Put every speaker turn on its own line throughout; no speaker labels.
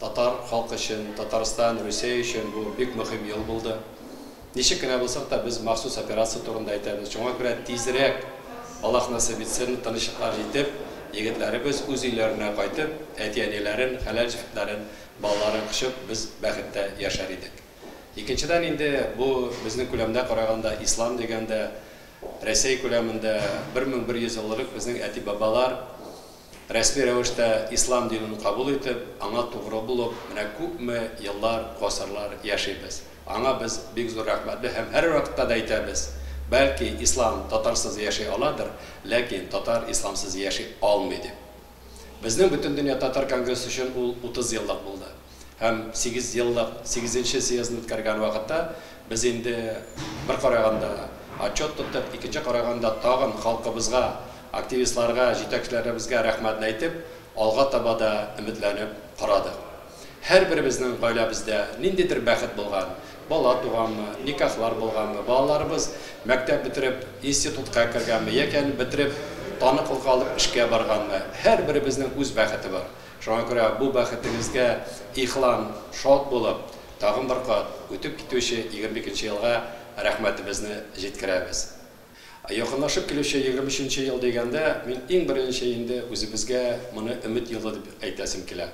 Татар халкы өчен, Татарстан, Русия өчен бу бик мөһим ел булды. Ничек кенә булсак та, без махсус операция турында әйтәбез. Шуңа күрә тизрәк, Аллаһ насыйп итсен, тынычлыкка җитеп, егетләребез үз өйләренә кайтып, әти-әниләрен, хәләл җефетләрен, балаларын кочып, без бәхеттә яшәр идек. Икенчедән инде, бу безнең күләмдә караганда, ислам дигәндә, Рәсәй күләмендә 1100 еллык безнең әти-бабалар, Рәсми рәвештә ислам динен кабул итеп, аңа тугры булып, менә күпме еллар, гасырлар яшибез. Аңа без бик зур рәхмәтле һәм һәрвакытта да әйтәбез, бәлки, ислам татарсыз яши аладыр, ләкин татар исламсыз яши алмый, дип. Безнең Бөтендөнья татар конгрессы өчен ул утыз еллык булды. һәм сигез еллык сигезенче съездны үткәргән вакытта без инде бер караганда отчет тоттык, икенче караганда тагын халкыбызга, активистларга, җитәкчеләребезгә рәхмәтне әйтеп, алга таба да өметләнеп карадык. Һәрберебезнең гаиләбездә ниндидер бәхет булган, бала туганмы, никахлар булганмы, балаларыбыз мәктәп бетереп, институтка кергәнме яки аны бетереп, таныклык алып эшкә барганмы, һәрберебезнең үз бәхете бар. Шуңа күрә бу бәхетегезгә ихлан шат булып, тагын бер кат үтеп китүче 22 нче елга рәхмәтебезне җиткерәбез. Якынлашып килүче 23 нче ел дигәндә, мин иң беренче инде үзебезгә моны өмет елы дип әйтәсем килә.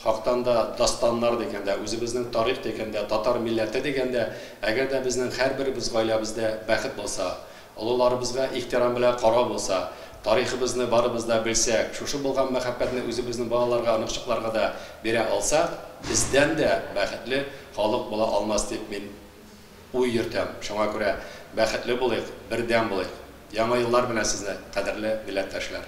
Хактан да дастаннар дигәндә, үзебезнең тарих дигәндә, татар милләте дигәндә, әгәр дә безнең һәрберебез гаиләбездә бәхет булса, Олыларыбызга ихтирам белән карау булса, тарихыбызны барыбыз да белсәк, шушы булган мәхәббәтне үзебезнең балаларга, оныкчыкларга да бирә алсак, бездән дә бәхетле халык була алмас дип мин уй йөртәм. Шуңа күрә бәхетле булыйк, бердәм булыйк. Яңа еллар белән сезне, кадерле милләттәшләр!